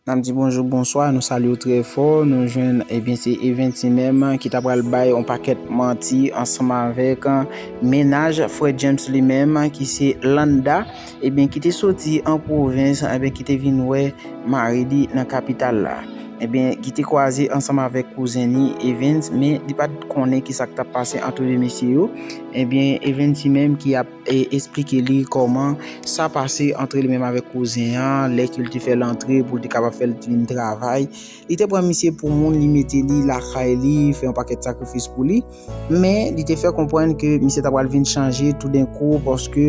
Nap di bonjou bonswa nou salyew trè fò nou jwenn ebyen se eventi menm ki ta pral bay yon pakèt manti ansanm avèk mennaj frè James li menm ki se Landa ebyen ki te soti an pwovens ebyen ki te vin wè mari li nan kapital la ebyen ki te kwaze ansanm avèk kouzen li Evens men li pat konnen ki sak tap pase antre 2 mesye yo ebyen Evens li menm ki ap E esplike li kòman sa pase antre li menm avèk kouzen an, lè ke li te fè l antre pou l te kapab fè l vin travay. Li te pran misye pou moun, li mete li lakay li, fè yon pakèt sakrifis pou li. Men, li te fè konprann ke misye ta pral vin chanje toudenkou paske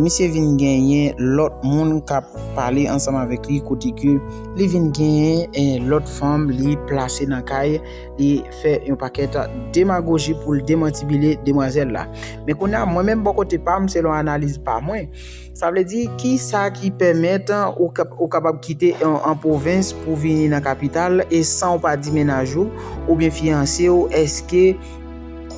misye vin genyen lòt moun k ap pale ansanm avèk li kote ke li vin genyen lòt fanm li plase nan kay li. fè yon pakèt demagoji pou l demantibile demwazèl la. Men kounye a, mwen menm bò kote pa m, selon analiz pa mwen, sa vle di ki sa ki pèmèt ou kapab kite an pwovens pou vini nan kapital e san ou pa di menaj ou oubyen fiyanse ou èske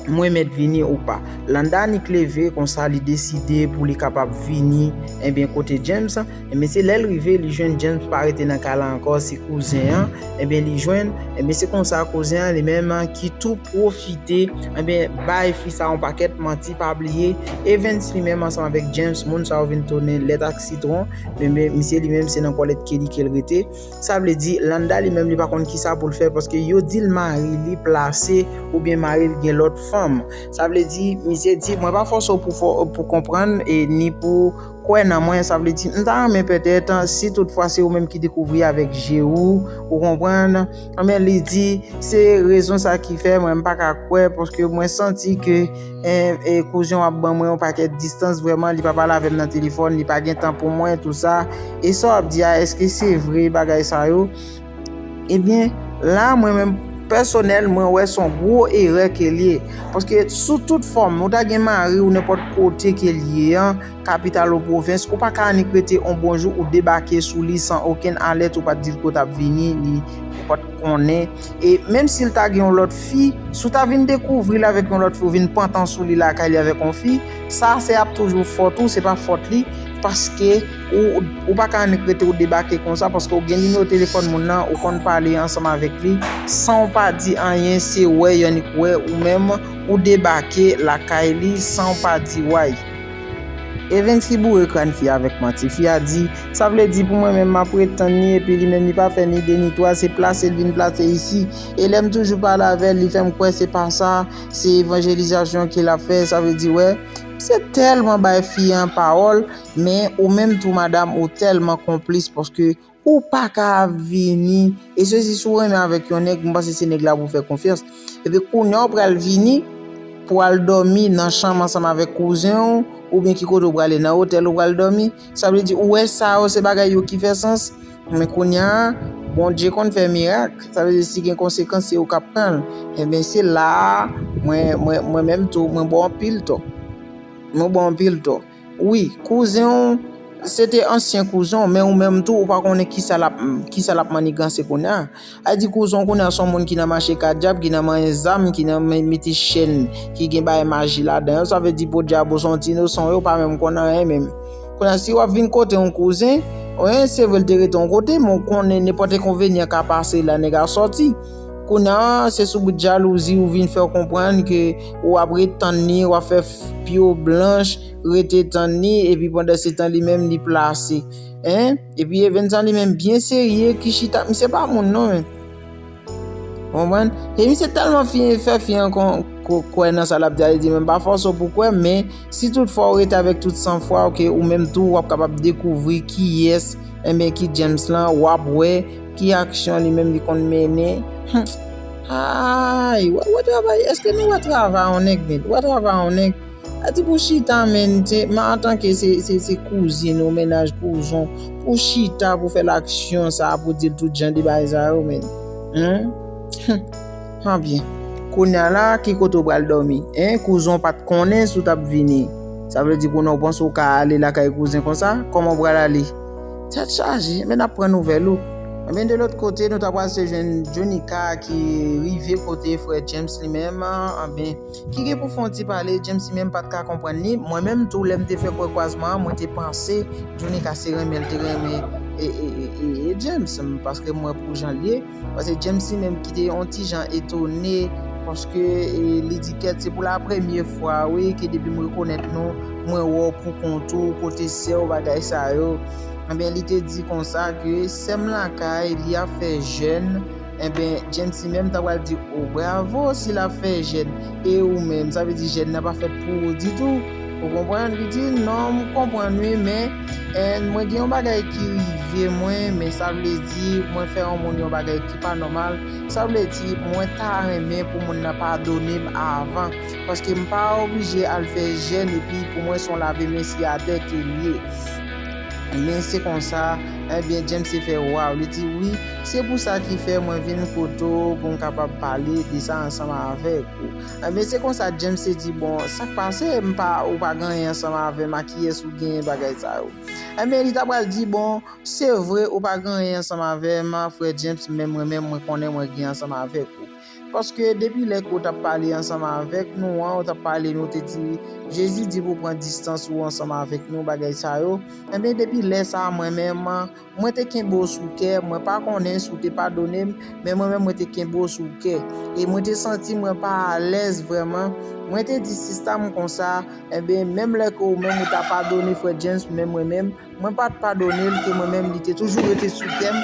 mwen mèt vini ou pa. Landa annik leve konsa li deside pou li kapab vini enben kote James. Ebyen se lèl rive li jwenn James pa rete nan kay la ankò se kouzen an ebyen li jwenn ebyen se konsa kouzen an li menm ki tou pwofite ebyen bay fi sa yon pakèt manti pa bliye Evens li menm ansanm avèk James moun sa yo vin tounen lèt ak sitwon ebyen misye li menm se nan kòlèt Kelly kel rete sa vle di Landa li menm li pa konn kisa poul fè paske yo dil mari li plase oubyen maril gen lòt fanm sa vle di misye di mwen pa fòse w pou konprann ni pou Kwè nan mwen, sa vle di, m ta renmen pètèt, si tout fwa se ou menm ki dekouvri avèk je ou, ou konprann, anben li di, se rezon sa ki fè mwen m pa ka kwè, paske mwen santi ke kouzen w ap ban mwen yon pakèt distans, vrèman, li pa pale avè m nan telefòn, li pa gen tan pou mwen, tou sa, e sa w ap di a, èske se vre bagay sa yo? Ebyen la mwen menm pèsonèl mwen wè son gwo erè kel ye paske sou tout fòm ou ta gen mari ou nenpòt kote kel ye an kapital ou pwovens ou pa ka annik rete on bon jou ou debake sou li san okenn alèt ou pat dil kote ou tap vini li pat konnen e menm sil ta gen yon lòt fi si ou ta vin dekouvril avèk yon lòt fi ou vin pantan sou li lakay li avèk yon fi sa se ap toujou fòt ou se pa fòt li paske Ou pa ka annik rete ou debake konsa paske ou gen nimewo telefòn moun nan, ou konn pale ansanm avèk li san ou pa di anyen se wè y annik wè ou menm ou debake lakay li san ou pa di way. Evens li boure kran fi a avèk manti. Fi a di, sa vle di pou mwen menm m ap ret tann li epi li menm li pa fè ni de ni twa se plase l vin plase isi e lè m toujou pale avè l li fè m kwè se pa sa se evanjelizasyon ke l ap fè sa vle di wè misye tèlman bay fi an pawòl Men ou menm tou madam ou tèlman konplis paske ou pa ka ap vini e se si si w renmen avèk yon nèg m panse se nèg la pou w fè konfyans epi kounya w pral vini pou w al dòmi nan chanm ansanm avèk kouzen w oubyen ki kote w prale nan otèl ou pral dòmi sa vle di ou wè sa yo se bagay yo ki fè sans men kounya Bondye konn fè mirak sa vle di si gen konsekans se ou k ap pran l enben se la a mwen mwen menm tou mwen ba w anpil tò mwen ba w anpil tò. Wi, kouzen w, se te ansyen kouzen w, men ou menm tou ou pa konnen kisa lap, kisa lap maniganse kounye a. A di kouzen w kounye a se yon moun ki nan mache kadyab, ki nan manyen zam, ki nan mete chèn ki gen bagay maji ladan yo, sa vle di podyabo se yon ti inosan, yo pa menm konn anyen menm. Kounye a, si wap vin kote yon kouzen, se vre l te rete yon kote, men ou konnen nenpòt enkonvenyan ka pase la nèg a sòti. Kounye a, se sou bout jalouzi ou vin fè w konprann ke ou ap ret tann li, ou ap fè pye w blanch rete tann li epi pandansetan li menm li plase. Hein? Epi Evens an li menm byen serye ki chita, misye pa moun non men. Ou konprann? E misye tèlman fi fè fi an kwè nan sa l ap di a, li di men m pa fòse w pou w kwè men si tout fwa ou rete avèk tout san fwa w ke ou menm tou w ap kapab dekouvri kiyès enben ki James lan, w ap wè Ki aksyon li menm li konn mennen? Humm aayy wap wè travay eske nou wè travay yon nèg nèt wè travay yon nèg a di pou chita menn se man antanke se se se kouzin ou mennaj kouzon pou chita pou fè l aksyon sa pou dil tout jan de bagay sa yo menn humm anbyen kounya la ki kote ou pral dòmi hein kouzon ou pat konnen si w tap vini sa vle di kounya ou panse ou ka ale lakay kouzin konsa kòman ou pral ale. Tèt chaje, men nap pran nouvèl ou. Ebyen de lòt kote nou ta pral se jwenn Jonica ki rive kote frè James li menm anben ki gen pou fè yon ti pale James li menm pat ka konprann li mwen menm tou lèm te fè prè kwazman an mwen te panse Jonica se renmen li te renmen James paske mwen pou janl ye Pase James li menm ki te yon ti jan etone paske li di kèt se pou la premye fwa wi ke depi m rekonèt nou mwen wè w pou kont ou, kote sè w bagay sa yo. Enben li te di konsa ke sè m lakay li ap fè jèn enben James li menm ta pral di o bravo si l ap fè jèn e ou menm sa vle di jèn nan pa fèt pou ou ditou ou konprann li di non m konprann wi men And mwen gen yon bagay ki rive mwen men sa vle di mwen fè yon moun yon bagay ki pa nòmal sa vle di mwen ta renmen pou moun nan padone m avan paske m pa oblije al fè jèn epi pou mwen son lave men siyatè ke m ye ebyen se konsa ebyen James te fè waw li di wi se pou sa ki fè mwen vin kote w pou m kapab pale de sa ansanm avèk ou. Ebyen se konsa James te di bon sak pase m pa ou pa gen anyen ansanm avèm a kiyès ou genyen bagay sa yo. Ebyen li ta pral di bon se vre ou pa gen anyen ansanm avèm frè James men mwen menm mwen konnen mwen gen ansanm avèk ou. Paske depi lè ke ou tap pale ansanm avèk nou an ou tap pale nou te di Jezi di pou pran distans ou ansanm avèk nou bagay sa yo. Ebyen depi lè sa mwen menm Mwen te kenbe w sou kè, mwen pa konnen si w te padone m, men mwen menm mwen te kenbe w sou kè. E mwen te santi mwen pa alèz vrèman, mwen te di sista m konsa, enben menm lè ke ou menm ou ta padone frè James men mwen menm, mwen pa t padone l ke mwen menm li te toujou rete sou kè m,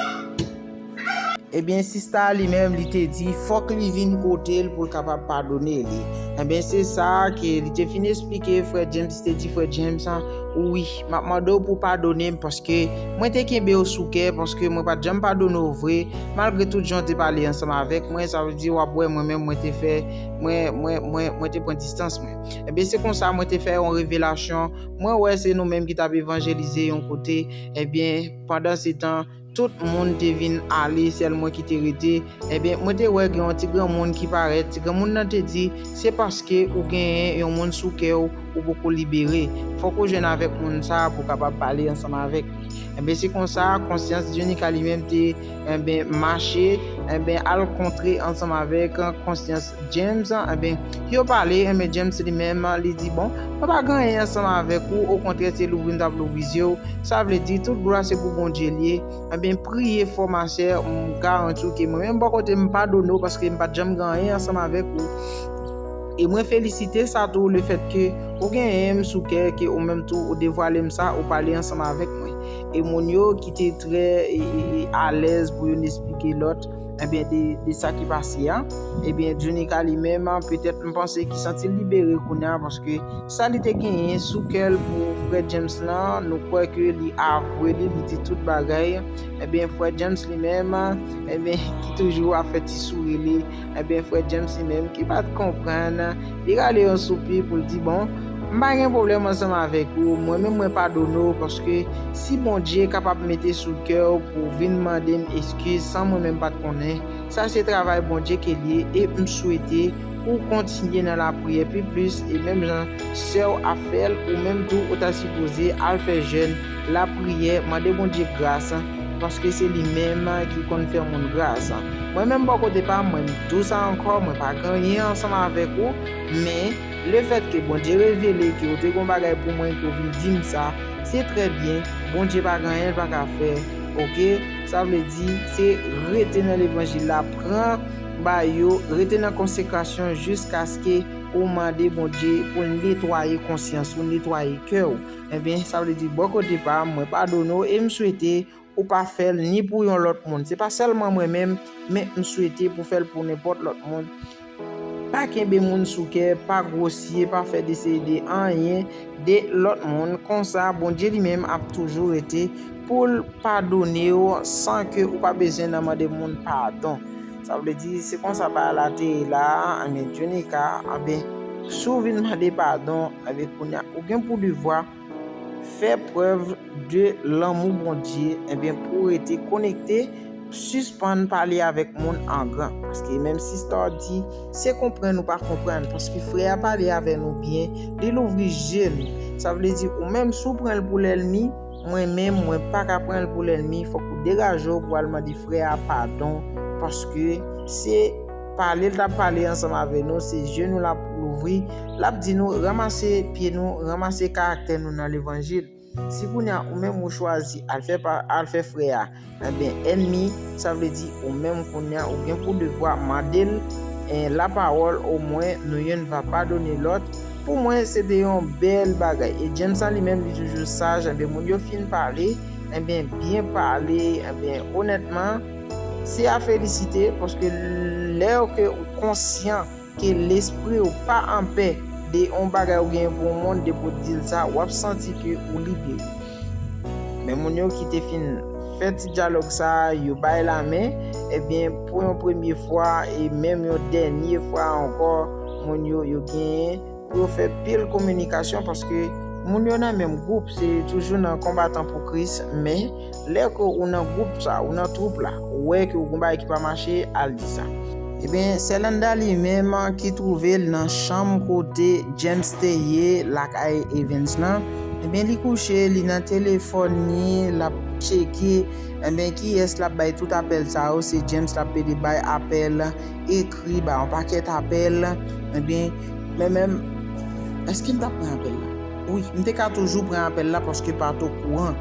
enben sista a li menm li te di fòk li vin kote l pou l kapab padone li, enben se sa a ke li te fin esplike frè James, li te di frè James, wi. Map mande w pou w padone m paske mwen te kenbe w sou kè, paske mwen pat janm padone w vre, malgre tout jan w te pale ansanm avèk mwen, sa vle di wap wè mwen menm mwen te fè, mwen, mwen, mwen, mwen te pran distans mwen. Ebyen se konsa mwen te fè yon revelasyon, mwen wè se nou menm ki tap evanjelize yon kote, ebyen pandansetan, Tout moun te vin ale, sèl mwen ki te rete. Enben, mwen te wè gen yon ti granmoun ki parèt. Ti granmoun nan te di, Se paske ou genyen yon moun sou kè ou, ou poko libere. Fòk ou jwenn avèk moun sa a pou w kapab pale ansanm avèk li. Enben, se konsa, konsyans Dyonika li menm te, enben, mache, enben, al kontre ansanm avèk konsyans. James, Enben, yo pale, enben James li menm, li di, Bon, mwen pa gen anyen ansanm avèk ou, okontrè se louvri m t ap louvri zye w, sa vle di, tout glwa se pou Bondye l ye, enben, priye fò ma sè, m garanti w ke mwen menm bò kote m padone w paske m pa t janm gen anyen ansanm avèk ou, e mwen felisite sa tou lefètke ou genyen m sou kè ke ou menm tou ou devwale m sa, ou pale ansanm avèk mwen. E moun yo ki te trè alèz pou yo n esplike lòt. Ebyen de sa ki pase a. Ebyen Djunika li menm petèt m panse ki santi l libere kounye a paske sa li te genyen sou kè l pou frè James lan nou kwè ke li avwe li, li di tout bagay. Ebyen frè James li menm ebyen ki toujou ap fè ti souri li, ebyen frè James li menm ki pa t konprann Li rale yon soupi pou l di, Bon, m pa gen pwoblèm ansanm avèk ou, mwen menm mwen padone w, paske si Bondye kapab mete sou kè w pou w vin mande m eskiz san mwen menm pa t konnen, sa se travay Bondye ke l ye, e m swete pou w kontinye nan lapriyè pi plis, e menm jan sè w ap fè l, ou menm tou ou ta sipoze al fè jèn. Lapriyè, mande Bondye gras, paske se li menm ki konn fè moun gras. Mwen menm bò kote pa m, mwen m dous ankò, mwen pa gen anyen ansanm avèk ou, men, lefètke Bondye revele ke ou te gen yon bagay pou mwen e ke ou vin di m sa, se trè byen, Bondye pa gen anyen l pa ka fè, oke, sa vle di, se rete nan levanjil la, pran ba yo, rete nan konsekrasyon jiskaske ou mande Bondye pou l netwaye konsyans ou, netwaye kè ou. Ebyen sa vle di bò kote pa m mwen padone w e m swete ou pa fè l ni pou yon lòt moun. Se pa sèlman mwen menm, men m swete pou fè l pou nenpòt lòt moun. Pa kenbe moun sou kè, pa gwosye, pa fè desede anyen de lòt moun, konsa Bondye li menm ap toujou rete pou l padone w san ke ou pa bezwen nan mande moun padon. Sa vle di se konsa bagay la te ye la a, anben Djonika, anben si w vin mande padon, anben kounye a ou gen pou devwa fè prèv de lanmou Bondye, anben pou w rete konekte, sispann pale avèk moun an gran, paske menm si Star di se konprann ou pa konprann, paske frè a pale avè nou byen, li louvri je nou, sa vle di ou menm si w pran l pou lèlmi, Mwen menm mwen paka pranl pou lènmi fòk ou degajew pou al mande frè a padon paske se pale l tap pale ansanm avè nou se zye nou lap louvri lap di nou ranmase pye nou ranmase karaktè nou nan levanjil si kounya ou menm ou chwazi al fè al fè frè a Enben, ènmi, sa vle di ou menm kounye a, ou gen pou devwa mande l lapawòl omwen nou youn va padone lòt, pou mwen se te yon bèl bagay. E James lan li menm li toujou saj, enben moun yo fin pale, enben byen pale, enben onètman se a felisite paske lè ke ou konsyan. Ke lespri ou pa anpè de on bagay ou genyen pou moun depi ou dil sa wap santi ke ou libere. Men moun yo ki te fin fè ti dyalòg sa yo bay lamen ebyen pou yon premye fwa e menm yon dènye fwa ankò moun yo yo genyen Pou yo fè pil kominikasyon paske moun yo nan menm gwoup se toujou nan konbatan pou Kris men lè ke ou nan gwoup sa ou nan twoup la ou wè ke gon bagay ki pa mache al di sa. Ebyen sè Landa li menm ki twouve l nan chanm kote James te ye lakay Evens lan ebyen li kouche li nan telefòn li lap tcheke ebyen kiyès lap bay tout apèl sa yo se James lap pede bay apèl e Li ba yon pakèt apèl, ebyen mwen menm èske m t ap pran apèl la? Wi, m te ka toujou pran apèl la paske pa t okouran.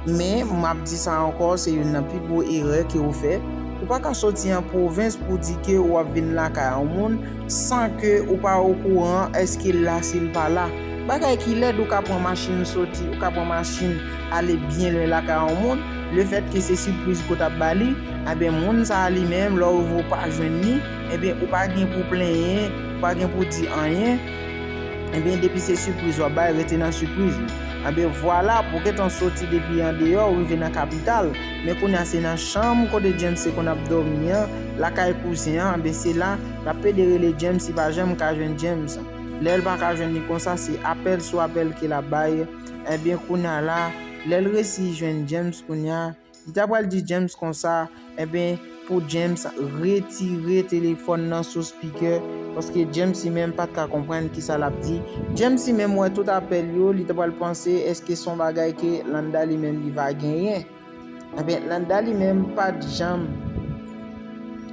Men, m ap di sa ankò, se youn nan pi gwo erè ke ou fè. Ou pa ka soti an pwovens pou w di ke ou ap vin lakay yon moun san ke ou pa okouran èske l la si l pa la. Bagay ki lèd, ou ka pran machin soti, ou ka pran machin. ale byen lwen lakay on moun, le fèt ke se sipriz ke w tap ba li, anben moun sa a li menm lè w ouvri w pa jwenn li, enben ou pa gen pou w plenyen, ou pa gen pou w di anyen, enben depi se sipriz wap bay rete nan sipriz ou. Anben vwala, pou gentan soti depi andeyò ou rive nan kapital, men kounye a se nan chanm kote James te konn ap dòmi an, lakay kouzen an, anben se la lap plede rele James li pa janm ka jwenn James, lè l pa ka jwenn li konsa se apèl sou apèl ke lap bay, Ebyen kounya la, lèl resi jwenn James kounya, li ta pral di James konsa, ebyen pou James retire telefòn nan sou spikè, paske James li menm pat ka konprann kisa lap di, James li menm wè tout apèl yo, li ta pral panse eske son bagay ke Landa li menm li va genyen. Ebyen Nanda li menm pat janm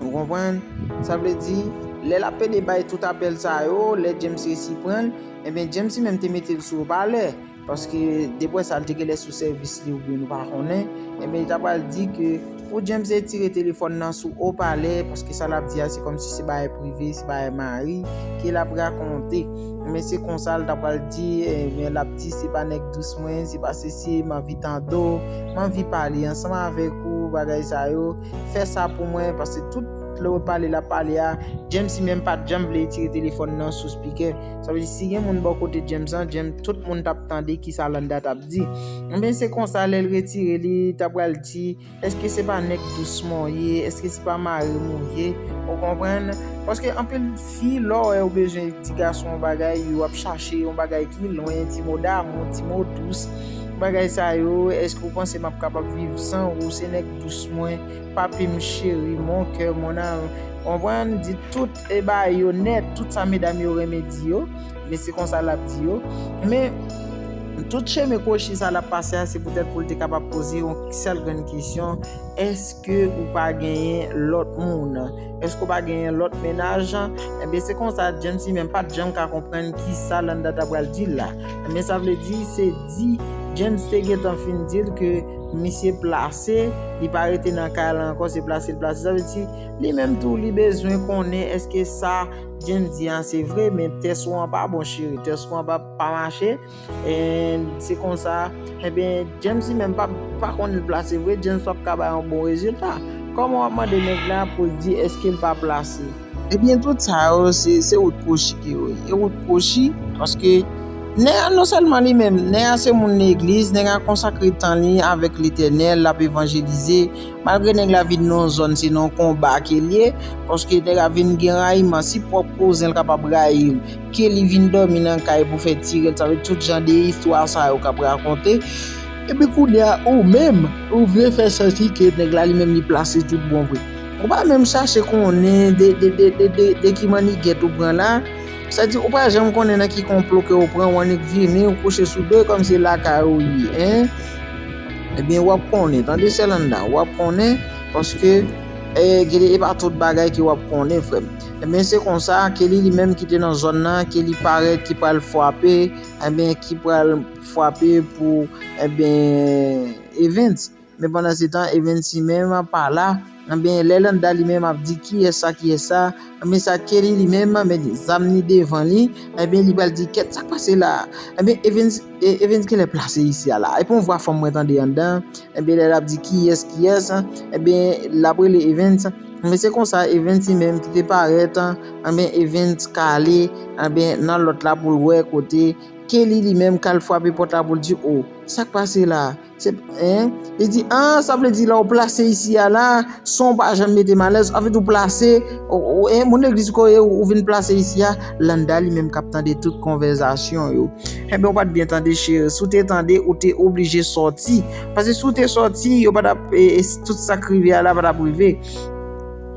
Ou konprann Sa vle di Lè lap pede bay tout apèl sa yo Lè James resi pranl Ebyen James li menm te metel sou opalè Paske deprè sa li te genlè sou sèvis li oubyen nou pa konnen Ebyen li ta pral di ke Pou James retire telefòn nan sou opalè Paske sa lap di a se kòmsi se bagay prive Se bagay mari Ke lap rakonte Ebyen se konsa li ta pral di Ebyen lap di se pa nèg dous mwen, se pa sesi, m anvi tande w, m anvi pale ansanm avèk ou, bagay sa yo, fè sa pou mwen, paske tout lè w pale l ap pale a, James li menm pa t janm vle retire telefòn nan sou spikè, sa vle di si gen moun bò kote James lan, James, tout moun t ap tande kisa Landa t ap di. Enben se konsa lè l retire li, ta pral di. Eske se pa nèg dous mwen w ye, eske se pa mari m ou ye, ou konprann? Paske anpil fi lè w wè yo bezwen di gason yon bagay, yo ap chache yon bagay ki lwen, ti mo damou, ti mo dous, bagay sa yo, eske ou panse m ap kapab viv san ou, se nèg dous mwen, papi m, cheri, mon coeur, mon amour, konprann? Di tout. E ba yo nèt tout sa medam yo renmen di yo, men se konsa l ap di yo. Men, tout chemen kwochi sa l ap pase a, se poutèt pou l te kapab poze yon sèl grenn kesyon, Èske ou pa genyen lòt moun? Èske ou pa genyen lòt mennaj? Enben, se konsa, James li menm pa t janm ka konprann ki sa Landa t apral di l la. Enben, sa vle di, se di James te gentan fin di l ke misye plase, li pa rete nan kay la ankò, se plase l plase. Sa vle di. Li menm tou li bezwen konnen eske sa James di an se vre men tès ou an pa bon cheri tès ou an pa pa mache en se konsa enben eh James li menm pa pa konn li plase vre James pap ka bay yon bon rezilta kòman wap mande nèg la pou l di eske l pa plase ebyen eh tout sa yo se se wout kwochi ke yo ye wout kwochi paske nèg a non sèlman li menm nèg a se moun legliz nèg a konsakre tan li avèk letènèl lap evanjelize Malgre nèg la vin nan zòn se nan konba kel ye paske nèg la vin gen rayiman si pwòp kouzenl kapab rayil ke li vin dòmi nan kay pou fè tirèl sa vle di tout jan de istwa sa yo kap rakonte epi kounya ou menm ou vle fè santi ke nèg la li menm li plase tout bon vre ou pa menm chache konnen de ki mannigèt ou pran la sa di ou pa janm konnen nan ki konplo ke ou pran ou annik vini ou kouche sou do kòm se lakay ou ye hein. Ebyen wap konnen tande sè Landa wap konnen paske e pa tout bagay ke wap konnen frèm ebyen se konsa Kelly li menm ki te nan zòn nan ke li parèt ki pral fwape ebyen ki pral fwape pou ebyen Evens men pandan se tan Evens li menm pa la. Anben lè Landa li menm ap di kiyès sa kiyès sa, anben sa Kelly li menm met zam li devan li, anben li pral di kèt sak pase la, anben Evens Evens genlè plase isi a la, epi yon vwa fanm mwen tande anndan, anben lè lap di kiyès kiyès, anben lap rele Evens, anben se konsa Evens li menm ki te parèt, anben Evens ka ale anben nan lòt la poul wè kote Kelly li menm kal fwape pòt la poul di oh sak pase la. Se p, en, li di, an, sa vle di lè ou plase isi a la, son w pa janm mete m alèz, anfèt ou plase, ou, en, moun legliz ko ye, ou vin plase isi a, Landa li menm k ap tande tout konvèzasyon yo, enben ou pa t byen tande cheri, si w te tande ou te oblije sòti, pase si w te sòti yo pa t ap, e, e, tout sa k rive a la pa t ap rive,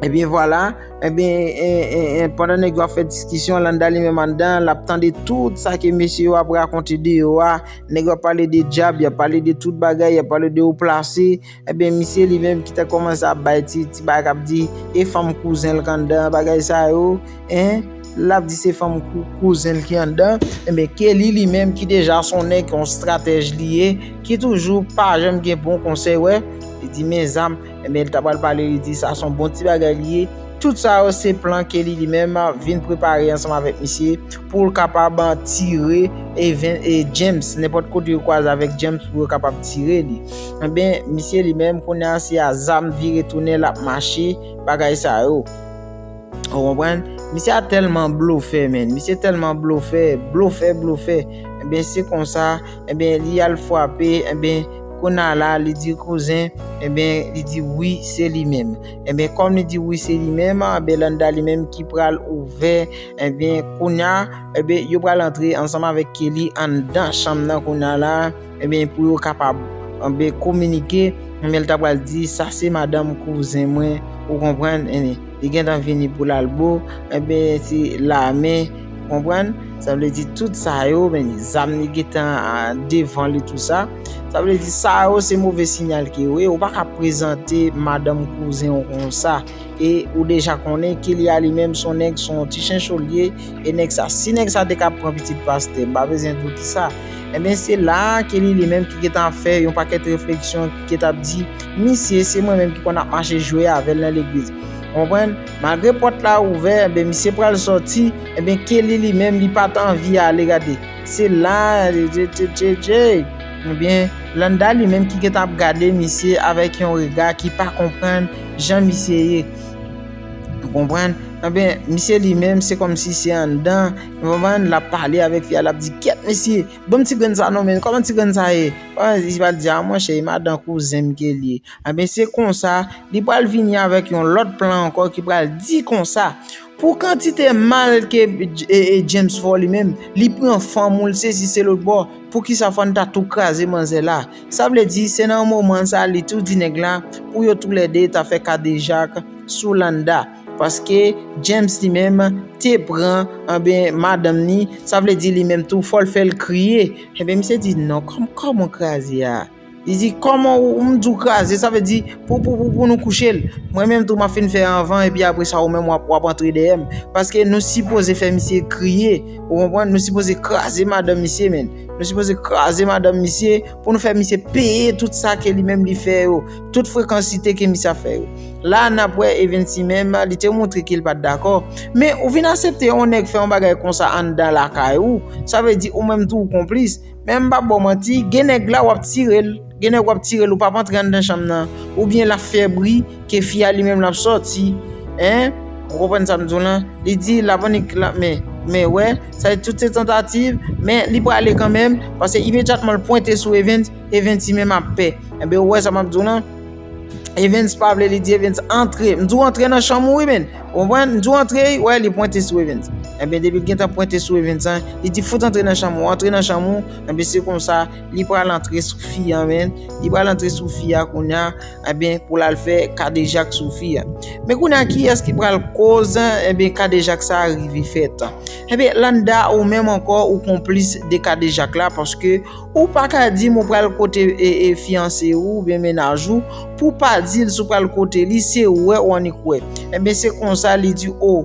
enben vwala, enben, en, en, en, pandan nèg yo ap fè diskisyon, Landa li menm anndan, l ap tande tout sa ke mesye yo ap rakonte deyò a. Nèg yo ap pale de djab, y ap pale de tout bagay, y ap pale de oplase, ebyen misye li menm ki ta kòmanse ap bay ti bagay k ap di e fanm kouzen l k anndan, bagay sa yo, en, l ap di se fanm kouzen l ki anndan, ebyen Kelly li menm ki deja s on nèg, on stratèj li ye, ki toujou pa janm gen bon konsèy wè, li di mezanm. Ebyen li ta pral pale li di sa son bon ti bagay li ye. Tout sa yo se plan ke li li menm vin prepare ansanm avèk misye pou l kapab tire e ven e James nenpòt kote yo kwaze avèk James pou yo kapab tire li. Ebyen misye li menm kounye a se a zam vire tounen l ap mache bagay sa yo. Ou konprann? Misye a tèlman blofè men, misye tèlman blofè, blofè blofè. Ebyen se konsa. Enben li al fwape enben kounye a la li di kouzen enben li di wi se li menm enben kòm li di wi se li menm Belanda li menm ki pral ouvè enben kounye a enben yo pral antre ansanm avèk Kelly anndan chanm nan kounye a la enben pou yo kapab anbe kominike enben li ta pral di sa se madanm kouzen mwen ou konprann enben li gentan vini pou l al bo enben se lame. Konprann? Sa vle di tout sa yo, men zam li gentan devan li tout sa. Sa vle di sa yo se move sinyal ke yo ye. Ou pa ka prezante madanm kouzen ou kon sa. E ou deja konnen Kilya li menm son nèg son ti chencho li ye. E nèg sa, si nèg sa te ka pran pitit pastè, m pa bezwen di w ki sa. Enben se la ke li li menm ki gentan ap fè yon pakèt refleksyon, ki gentan ap di, misye se mwen menm ki konn ap mache jwe avè l nan legliz. Konprann? Malgre pòt la ouvè enben misye pral sòti enben Kelly li menm li pat anvi ale gade se la jejejejej enben Landa li menm ki gentan ap gade misye avèk yon rega ki pa konprann jan misye ye ou konprann enben misye li menm se kòmsi se anndan ou konprann lap pale avèk fi a lap di kyèt mesye banm ti grenn sa non men kòman ti grenn sa ye li pral di a monchè e madan kouzenm Kelly. Enben se konsa, li pral vini avèk yon lòt plan ankò ki pral di konsa, Pou kantite mal ke James fè w li menm, li pran fanm ou, l sezi se lòt bò, poukisa fò n ta tou kraze manzè la? Sa vle di, se nan moman sa li tou di nèg la pou yo tou lè 2 ta fè kadejak sou Landa. Paske James li menm te pran, enben madanm ni, sa vle di li menm tou fò l fè l kriye. Enben misye di non, kòman kraze a? Li di kòman ou m di w kraze sa vle di pou pou pou pou nou kouche l. Mwen menm tou m ap fin fè anvan epi apre sa ou menm w ap w ap antre dèyè m. Paske nou sipoze fè misye kriye ou konprann nou sipoze kraze madanm misye menn. Nou sipoze kraze madanm misye pou nou fè misye peye tout sa ke li menm li fè yo. Tout frekansite ke misye ap fè yo. La n ap wè Evensy menm li te montre ke l pa t dakò. Men ou vin asepte yon nèg fè yon bagay konsa anndan lakay ou sa vle di ou menm tou ou konplis. Men m pa baw manti, gen nèg la wap tire l, gen nèg wap tire l ou pap antre anndan chanm nan, oubyen lap fè bri ke fi a li menm lap sòti hein, ou konprann sa m di w lan, li di lap annik lap men, men wè, sa e tout se tantativ, men li prale kanmenm, pase imedyatman l pwente sou Evens, Evens li menm ap pè, enben ou wè sa map di w lan. Evens pa vle li di Evens antre m di w antre nan chanm ou wi menn ou konprann m di w antre wè li pwente sou Evens enben depi l gentan pwente sou Evens an li di fout antre nan chanm ou antre nan chanm ou enben se konsa li pral antre sou fi an menn li pral antre sou fi a kounya enben pou l al fè kadejak sou fi a men kounya kiyès ki pral koz enben kadejak sa rive fèt enben Landa ou menm ankò ou konplis de kadejak la paske Ou pa ka di m ou pral kote fiyanse ou oubyen mennaj ou pou w pa di l si w pral kote li, se wè ou annik wè. Enben se konsa li di o,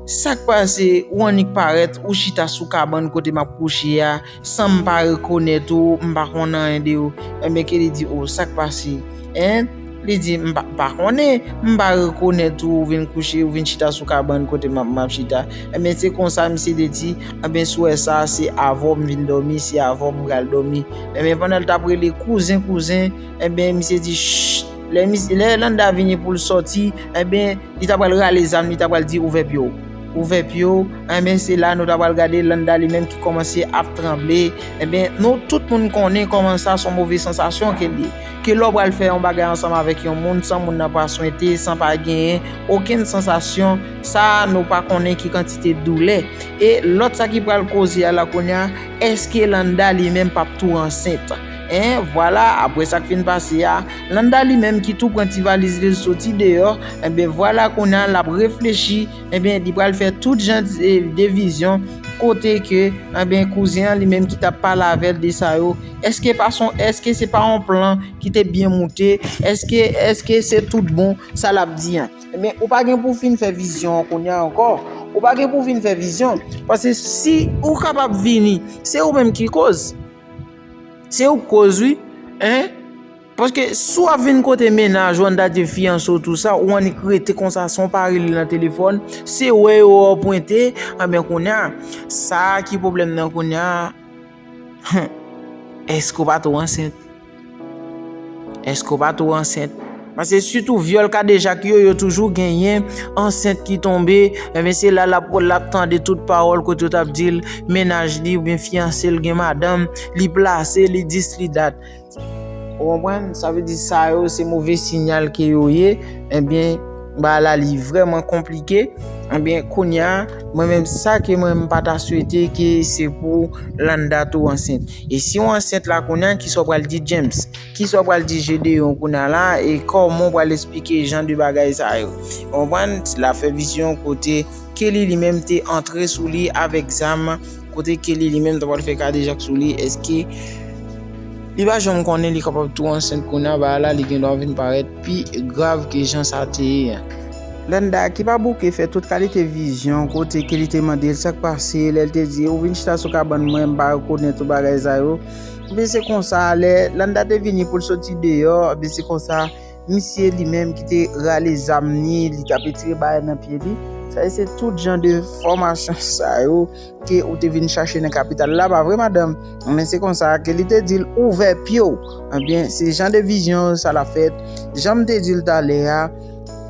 sa k pase ou annik parèt ou chita sou kabann kote m ap kouche a san m pa rekonèt ou, m pa konn anyen de ou. Enben ke li di o, sa k pase? Li di, M pa konnen, m pa rekonèt ou, ou vin kouche, ou vin chita sou kabann kote m ap chita. Enben, se konsa misye te di, Enben, souwè sa a, se avè w m vin dòmi, se avè w m pral dòmi. Enben, pandan l t ap rele, Kouzen, kouzen! Enben, misye di, Chch! Lè Landa vini pou l sòti, enben, li ta pral rale zam, li ta pral di, Ouvè pye w! Ouvè pye w! Enben, se la nou ta pral gade Landa li menm ki kòmanse ap tranble. Enben, nou tout moun konnen kòman sa s on move sansasyon ke l ye. Ke lè w pral fè yon bagay ansanm avèk yon moun san moun nan pa swente, san pa genyen okenn sansasyon, sa a nou pa konnen ki kantite doulè. E lòt sa ki pral koze a la kounye a, èske Landa li menm pap tou ansent? En vwala, apre sa k fin pase a, Landa li menm ki tou pran ti valiz li l soti deyò, enben vwala kounye a l ap reflechi, enben li pral fè tout jan de vizyon kote ke enben kouzen an li menm ki t ap pale avè l de sa yo, Eske pa son eske se pa yon plan ki te byen moute eske eske se tout bon sa lap di an men ou pa gen pou fin fè vizyon an kounye an ankò ou pa gen pou fin fè vizyon pase si ou kapab vini se ou menm ki koz se ou koz wi hein paske si wap vin kote mennaj ou an dat de fiyanse ou tou sa ou annik rete konsa san w pa rele nan telefòn se wè yo wè w pwente anben kounye a sa ki pwoblèm nan kounye a. Hum Eske w pa tou ansent? Eske w pa tou ansent? Pase sitou vyòl kadejak yo, yo toujou genyen ansent ki tonbe, enben se la lap lap tande tout pawòl kote yo tap di l mennaj li oubyen fiyanse l gen madanm, li plase, li dis li dat. Ou konprann? Sa vle di sa yo se move sinyal ke yo ye, ebyen bagay la li vreman konplike, ebyen kounya mwen menm sa ke mwen pa ta swete ke se pou Landa tou ansent. E si ou ansent la kounya kisa ou pral di James? Kisa ou pral di Gedeon kounya la e koman ou pral esplike jan de bagay sa yo? Ou konprann? Ti lafè vizyon kote Kelly li menm te antre sou li avèk zam. Kote Kelly li menm ta pral fè kadejak sou li eske li pa janm konnen li kapab tou ansent kounya ba la li gen dwa vin parèt pi grav ke jan sa te ye an. Landa, ki pa bouke, fè tout kalite vizyon, kote Kelly te mande l sa k pase, lè l te di, ou vin chita sou kabann mwen, m pa rekonèt ou bagay sa yo. Ebyen se konsa, lè Landa te vini pou l soti deyò, ebyen se konsa, Misye li menm ki te rale zam ni li tap etire bagay nan pye li. Sa e se tout jan de fòmasyon sa yo ke ou te vin chache nan kapital la pa vre madanm? Men se konsa ke li te dil ouvè pyew. Ebyen eh se jan de vizyon sa la fèt. Janm te dil talè a,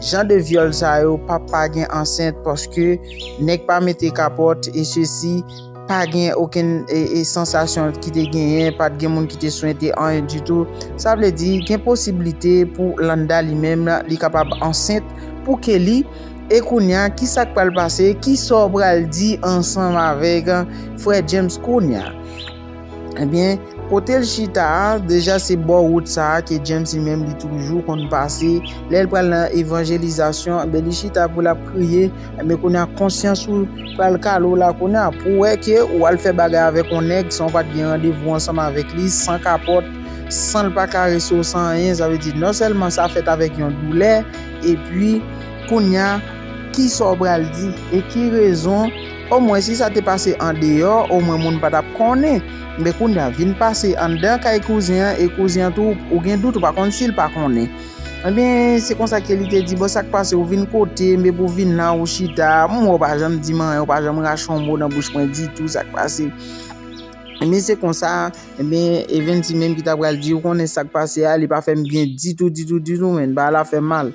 jan de vyòl sa yo pap pa gen ansent paske nèg pa mete kapòt e sesi. Pa gen okenn sansasyon ki te genyen, pa t gen moun ki te swente anyen ditou. Sa vle di, gen posiblite pou Landa li menm li kapab ansent pou Kelly. E kounya, ki sa k pral pase? Ki sa w pral di ansanm avèk frè James kounya? Ebyen, kote l chita a, deja se bò wout sa a ke James li menm li toujou konn pase. Lè l pral nan evanjelizasyon, li chita pou l ap priye. Ebyen kounya konsyans ou pral kale w la kounya pou wè ke ou al fè bagay avèk yon nèg san ou pat gen randevou ansanm avèk li, san kapòt, san l pa karese w san anyen, sa vle di non sèlman sa fèt avèk yon doulè, epi kounya kisa w pral di e ki rezon, omwen si sa te pase andeyò omwen moun pa tap konnen, men kounya vin pase anndan kay kouzen an e kouzen an tou ou gen dout ou pa konn si l pa konnen. Enben, se konsa ke li te di, Bon, sa k pase? Ou vin kote m epi w vin la, ou chita. M wè w pa janm di m anyen, ou pa janm rache yon mo nan bouch mwen ditou. Sa k pase? Enben, se konsa, enben, Evens li menm ki ta pral di, ou konnen sa k pase a, li pa fè m byen ditou, ditou, ditou menn. Bagay la fè m mal.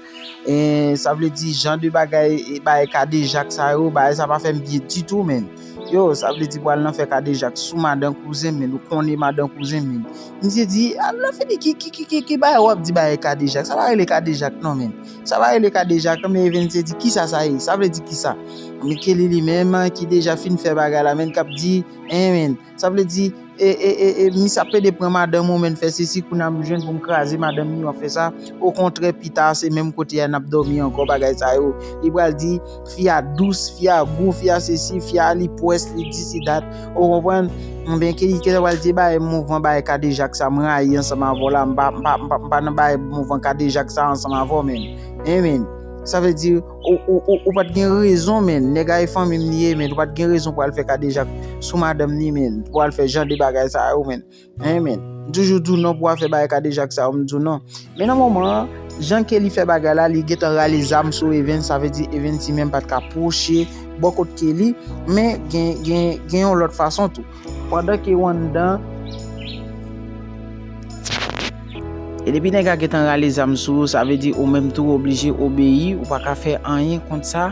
E, sa vle di, jan de bagay, bagay kadejak sa yo, bagay sa pa fè m byen ditou menn. Yo, sa vle di pou al nan fè kadejak sou madan kouzen m menn. Ou konnen madan kouzen m menn. Misye di, al nan fini, ki, ki, ki, ki, ki bagay wap di bagay kadejak? Sa pa rele kadejak non menm. Sa pa rele kadejak non men Evense di, kisa sa ye? Sa vle di kisa? Men Kelly li menm ki deja fin fè bagay la menm kap di, en men, sa vle di, e, e, e, e, misye ap plede pran madanm ou menm fè sesi kounye a m jwenn pou m kraze madanm ni wap fè sa, okontrè pita se menm kote a nap dòmi ankò bagay sa yo. Li pral di. Fi a dous, fi a gou, fi a sesi, fi a li pwès, li di si dat. Ou konprann? Mwen ke li te wal di bay mouvman bay kadejak sa mwen rayi ansanm avò la, mpa mpa nan bay mouvman kadejak sa ansanm avò menn. Hein menn. Sa vle di ou pat gen rezon menn, nèg a e fanmim li ye menn, ou pat gen rezon pou al fè kadejak sou madanm li menn, pou al fè jan de bagay sa yo menn. Amen M toujou di w non pou afè bagay kadejak sa yo m di w non. Men nan moman an, jan Kelly fè bagay la li gentan rale zam sou Evens sa vle di Evens li menm pat ka pwoche bò kot Kelly men gen gen gen yon lòt fason tou. Pandan ke w anndan. E depi nèg a gentan rale zam sou ou sa vle di ou menm tou oblije obeyi ou pa ka fè anyen kont sa.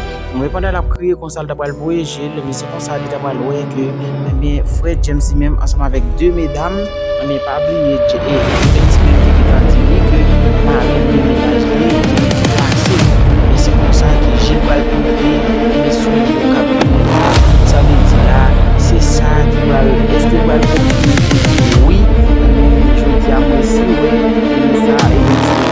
Anmwey pandan lap kriye konsa li ta pral voye jel men se konsa li ta pral wè ke ebyen frè James li menm ansanm avèk 2 medam ebyen pa bliye James li menm te gentan di li ke mari li mennaj li te gentan pase ebyen se konsa ke jel pral pote ebyen souli yo kap vini la sa vle di la se sa ki pral èske ou pral konfime ke wi ebyen jodia mwen si wè ebyen sa ebyen se.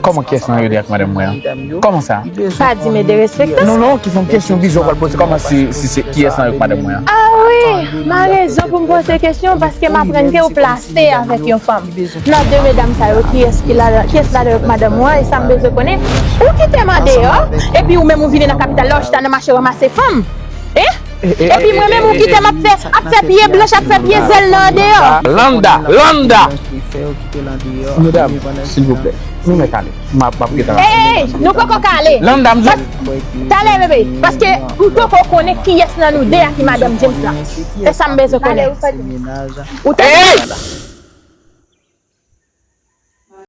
Koman kyes nan yo li ak madanm mwen an? Koman sa? Pa di me derespekte. Non non, ki son kesyon bizon pral poze koman si se kyes nan yo ki madanm mwen an? A wi, ma rezon pou m poze kesyon paske m aprann ke ou plase avèk yon fanm. Nan de medam sa yo kiyes ki ladan, kyes ladan yo ki madanm ou an e sa m bezwen konnen, ou kite m an deyò epi ou menm ou vini nan kapital la ou chita nan mache ranmase fanm? Hein? Epi mwen menm ou kite m ap fè ap fè pye blanch ap fè pye zèl nan andeyò. Landa! Landa! Medam, silvouplè, nou mèt ale. M ap gen tan aprann. Ey! Nou poko ka ale. Landa, m di w. Talè bebe, paske m poko konnen kiyès nan nou 2 a ki madanm James la. Se sa m bezwen konnen. Ou tande? Ey!